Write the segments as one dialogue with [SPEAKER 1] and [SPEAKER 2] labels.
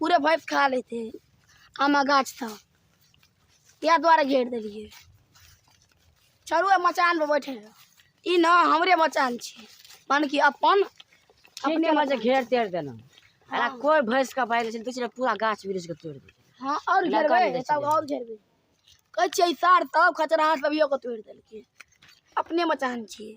[SPEAKER 1] पूरे भैंस खा लेते हैं आमा गाछ था इएह दुआरे घेर देलियै चलू आ मचानपर बैठे रह। ई ने हमरे मचान छियै माने कि अपन अपने अपने मजे घेर तेर देना अरे हाँ। कोई भैंस का बाहर चल पिछले पूरा गाछ वृक्ष के तोड़ दे हाँ और लगा घेरबै देने तब छलै। और घेरबै कहै छियै सार तब खचरा हाथ लबियो के तोड़ि देलकै अपने मचान छियै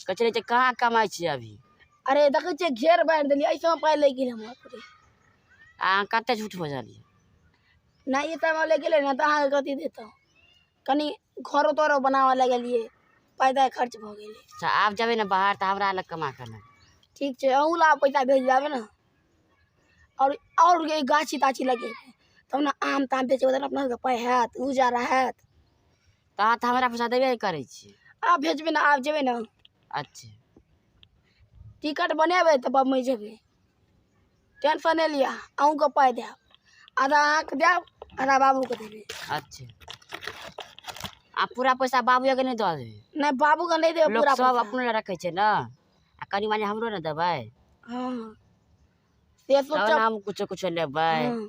[SPEAKER 1] कहै छलै जे कहाँ कमाइ छियै अभी अरे देखै छियै घेर बारि देलियै ऐसे में पाइ लागि गेलै हमर पूरे आ अहाँ कते झूठ बजलियै नहि ई टाइम लागि गेलै ने तऽ अहाँके कथी देतहुँ कनि घरो तोरो बनाबऽ लगलियै पाइ ताइ खर्च भऽ गेलै अच्छा आब जेबै ने बाहर तऽ हमरा लग कमा कऽ लेबै ठीक छै अहूँ ला पैसा भेज देबै ने आओर आओर ये गाछी ताछी लगेबै तब ने आम ताम बेचबै तब ने अपना सबके पाइ हैत गुजारा हैत तऽ अहाँ तऽ हमरा पैसा देबे करै छी आब भेजबै ने आब जेबै ने अच्छा टिकट बनेबै तऽ बम्बइ जेबै टेंशन नहि लिअ अहूँके पाइ देब आधा अहाँके देब आधा बाबूके देबै अच्छा आ पूरा पैसा बाबूएके नहि दऽ देबै नहि बाबूके नहि देबै लोक पूरा सब पैसा। अपने लए रखै छै ने आ कनि मनि हमरो ने देबै हँ से तब ने सोचब हम कुछो कुछो लेबै हँ।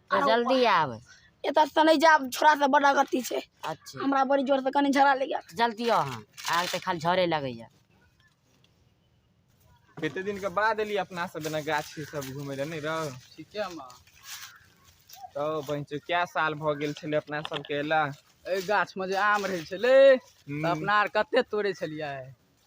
[SPEAKER 1] आ जल्दी आब एतऽ से नहि जायब छोड़ा से बड़ा गति छै अच्छा हमरा बड़ी जोर से कनी झगड़ा लागि गेल जल्दी आउ अहाँ आग तऽ खाली झरे लगैया कते दिन के बाद एली अपना सब एना गाछी सब घूमे ले नहीं रहो ठीके माँ तो बहन चो क्या साल भ गेल छले अपना सब के एला एहि गाछमे जे आम रहै छलै तऽ अपना आर कते तोड़ै छलियै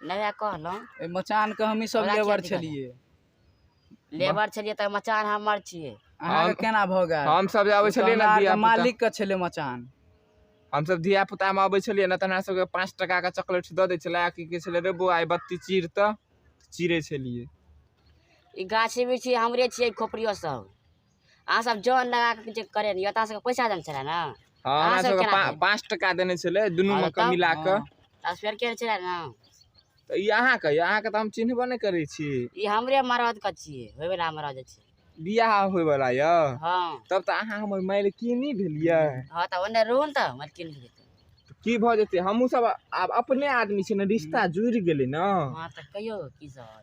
[SPEAKER 1] नया कहलहुँ एहि मचानके हमही सब हमरा लेबर किया दिक्कत छलियै लेबर छलियै तऽ मचान हमर छियै अहाँके हम- केना भऽ गेल हम सब जे आबै ओ तऽ छलियै ने हमरा आरके धिया पुता मालिक के छलै मचान हम सब धिया पुता मे अबै छलियै ने तऽ हमरा सबके पाँच टका के चॉकलेट दऽ दै छलै आ की कहै छलै रे बौआ आइ बत्ती चीर तऽ चीरै छलियै ई गाछी बिछी हमरे छियै खोपड़ियो सब अहाँ सब जान लगा के जे करे रहियो ता सब पैसा देन छला ना हां हमरा सब के 5 टका देने छले दुनु में के मिला के आ फेर के छला ना त ई अहाँ के अहाँ के त हम चिन्हबो नै करै छी ई हमरे मरद के छी होय वाला मरद छी बियाह होय वाला य हां तब त अहाँ हमर मालकिनी भेलिए हां त ओने रोन त मालकिनी भेलिए की भ जेते हमहु सब आब अपने आदमी छी ने रिश्ता जुड़ गेले ना हां त कहियो की सब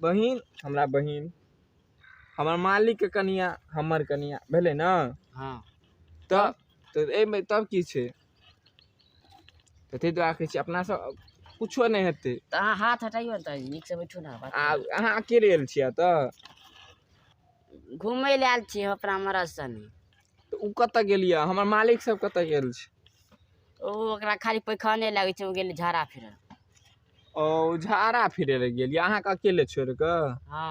[SPEAKER 1] बहिन हमरा बहिन हमर मालिकके कनिया हमर कनिया भेलै ने हँ तऽ तऽ एहिमे तब की छै तऽ ताहि दुआरे कहै छी अपनासँ किछो नहि हेतै तऽ अहाँ हाथ हटाइयो ने तऽ नीक से बैठू ने बात आ अहाँ अकेले आयल छियै तऽ करू। घूमय लए आयल छी हम अपना मरद सने तऽ ओ कतऽ गेलियै हमर मालिक सब कतऽ गेल छै ओ ओकरा खाली पैखाने लागै छै ओ गेलै झाड़ा फिरऽ ओ झारा फिरै लए गेल यऽ अहाँके अकेले छोड़ि कऽ हँ